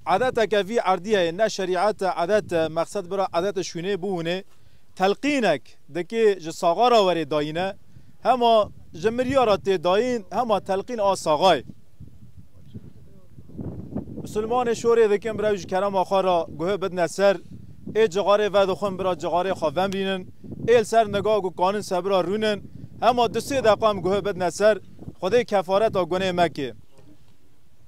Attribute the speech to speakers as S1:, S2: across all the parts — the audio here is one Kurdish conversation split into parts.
S1: Adeteke vî erdîye yê ne şerîet e, adet e, mexsed bira adet û şûnê bûwînê. Telqînek dikê ji saxa re werê dayîne, hema ji mirîya re tê dayîn, hema telqîn a saxa ye. Misilmanê şorê dikin bira wî ji kerema xwe re guhi bidine ser, ê cixarê vedixwin bira cixarê xwe vemrînin, ê li ser niga ku kanin se bira rûnin, hema du sê deqe em guhi bidine ser, Xwedê kefareta gunê mekê.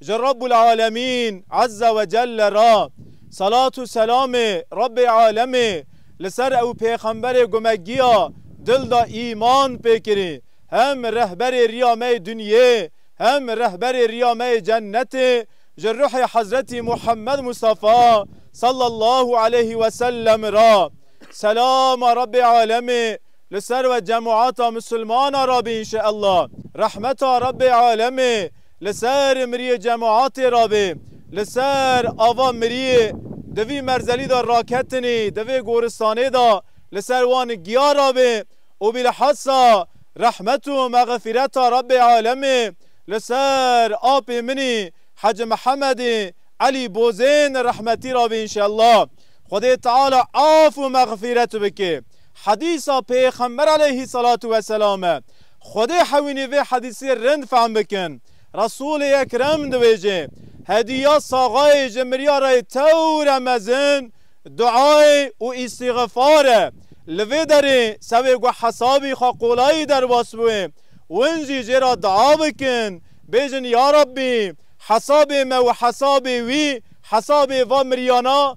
S1: Ji Rabbul Alemîn Ezze we Celle re selat û selamê Rabbê Alemê li ser ew pêxemberê ku me giya dil da îman pê kirî, hem rehberê riya me yê dinyê hem rehberê riya me yê cennetê ji ruhê Hezretî Muhammed Mustafa Sallallahu Aleyhi we Sellem re selama Rabbê Alemê li ser we cemata misilmana re be înşeellah. Rehmeta Rabbê Alemê Li ser miriyê cemaetê re bê, li ser ava miriyê di vî merzelî de raketinî di vê goristanê de li ser wan giya re bê û bîlhesa rehmet û mexfîreta Rebbê Alemê li ser apê min î Hecî Mihemedê Elî Bozên rehmetî re bê înşella. Xwedê Teala af û mexfîret bike. Hedîsa Pêxember Eleyhî Selatû Weselam e. Xwedê hewînî vê hedîsê rind fehm bikin. Resûlê Ekrem dibêje, Hedîya saxayê ji miryarayê tewre mezin duayê û îstîxfar e. Li vê derê sewê ku hesabî xwe qolayî derbas bûye, win jî jê re dua bikin, bêjin ya Rabbî hesabê me û hesabê wî, hesabê va miryana,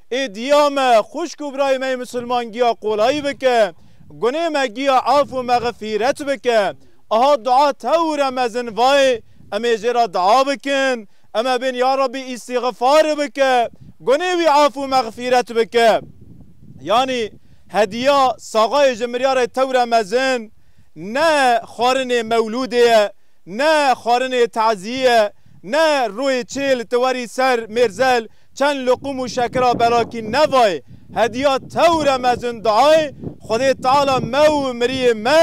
S1: Ê diya me xwişk û birayê me yê misilman giya qolayî bike, gunê me giya af û mexfîret bike. Aha dua tewire mezin vayê, em ê jê re dua bikin, em ê bên ya Rabbî îstîxifar bike, gunê wî af û mexfîret bike. Yanî hediya saxayê ji miryarê tewire mezin ne xwarinê mewlûdê ye, ne xwarinê tezîyê ye, ne royê çêl ti werî ser mêrzel, çend luqum û şekira berakî nevayê hediya tewre mezin duayê Xwedê Teala me û miriyê me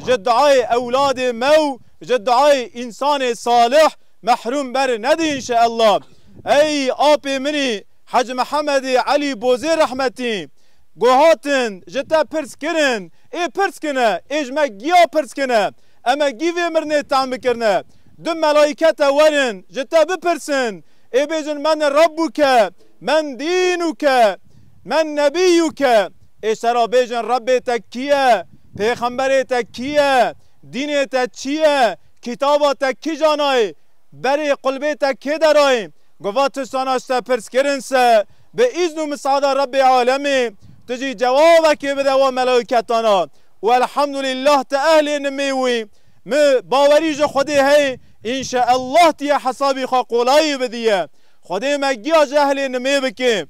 S1: ji duayê ewladê me û ji duayê însanê salih mehrûm ber nedi înşeella. Ey apê minî Hecî Mihemedê Elî Bozê rehmetî Go hatin ji te pirs kirin ê pirs kine ê ji me giya pirs kine eme gî vê mirnê tehm bikirine du melaykete werin ji te bipirsin Ê bêjin Men Reb û ke, Men Dîn û ke, Men Nebî û ke. Ê şera bêjin Rebê te kî ye? Pêxemberê te kî ye? Dînê te çi ye? Kitaba te kîja nayê? Berê qulbê te kê derayê? Gava tiştana ji te pirs kirin se, bi îzn û misada Rebê alemê, tu jî cewabekê bide wan melaîketana û Elhamdulîllah ti ehlê nimê wî. Mi bawerî ji Xwedê heye înşeellah tu yê hesabê xwe qolayê bidîye. Xwedê me giya cehlê nimê bike.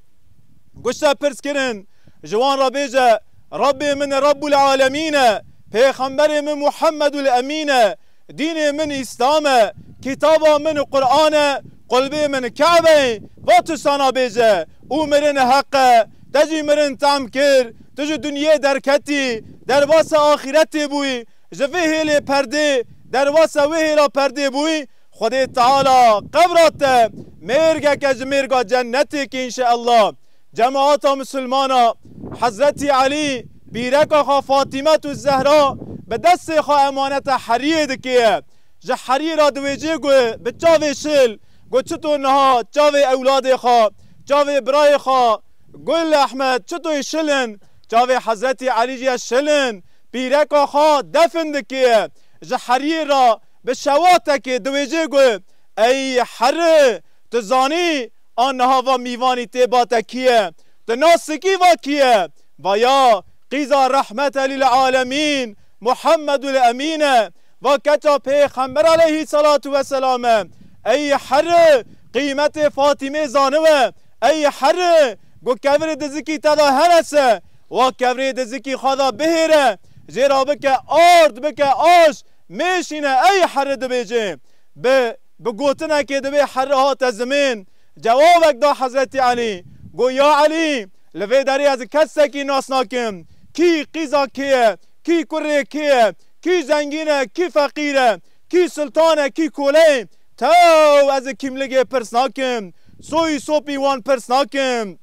S1: Guşte pirs kirin ji wan re bêje Rabbê min Rabbûlealemîn e, pêxemberê min Muhemedul Emîn e, dînê min Îslam e, kitaba min Quran e, qulbê min Kebe ye va tiştana bêje û mirin heq e. Te jî mirin tam kir. Tu ji dinyê derketî derbasê axîretê bûyî. Ji vê hêlê perdê, derwasa wê hêla perdê bû, Xwedê Teala qebra te mêrgeke ji mêrga cennetê ke înşeella. Cemaata Misilmana, Hezretî Elî, bîreka xwe Fatîmetû Zehra bi destê xwe emanete heriyê dikêye. Ji heriyê re diwêjê ku bi çavê şil ku çitor niha çavê ewladê xwe, çavê birayê xwe Gul Ehmed Çitoy şil in, Çavê Hezretî Elî jî ye şilin, pîreka xwe defn dikê. Ji heriyê re bi şewatekê diwêjê got, Ey heri! Tu zanî a niha va mîvanî tê ba te kî ye? Tu na sikî va kî ye? Vaya, qîza Rehmete lîl-alemîn, Muhemedul Emîn e. Va keça Pêxember aleyhîsselatû vesselam e. Ey heri! Qîmetê Fatîmê zanibe. Ey heri! Ku kevirê dizikî te de herese, wext kevirê dizikî xwe de bihêre, jê re bike ard, bike aş, mêşîne ey herri dibêje. Bi bi gotinekê di vê herri hate zimên. Cewabek da Hezretî Elî, got, Ya Elî, li vê derê ez kesekî nas nakim, kî qîza kê ye, kî kurê kê ye, kî zengîn e, kî feqîr e, kî sultan e, kî kole ye, Taw ez ê kîmligê pirs nakim, soyî sopî wan pirs nakim.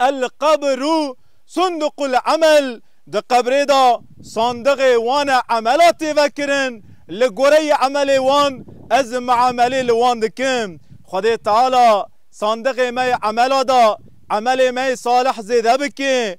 S1: El qebru sunduqu l emel, di qebrê de sandiqê wan e emela tê vekirin, li goreyê emelê wan ez miamelê li wan dikim. Xwedê Teala sandiqê me yê emela de emelê me yê salih zêde bike.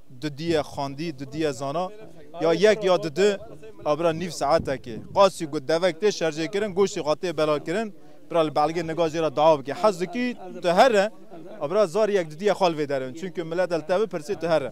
S1: Du diye xwendî, du diye zana. Ya yek ya di di a bira nîv saetekê. Qasî got devek tê şerjêkirin, goştê xwe tê belavkirin. Bira li belgê nika jê re dawa bike. Hez dikî tu here? A bira zarî yek di diye xwe li vê derin. Çimkî milet e li te bipirsê tu here.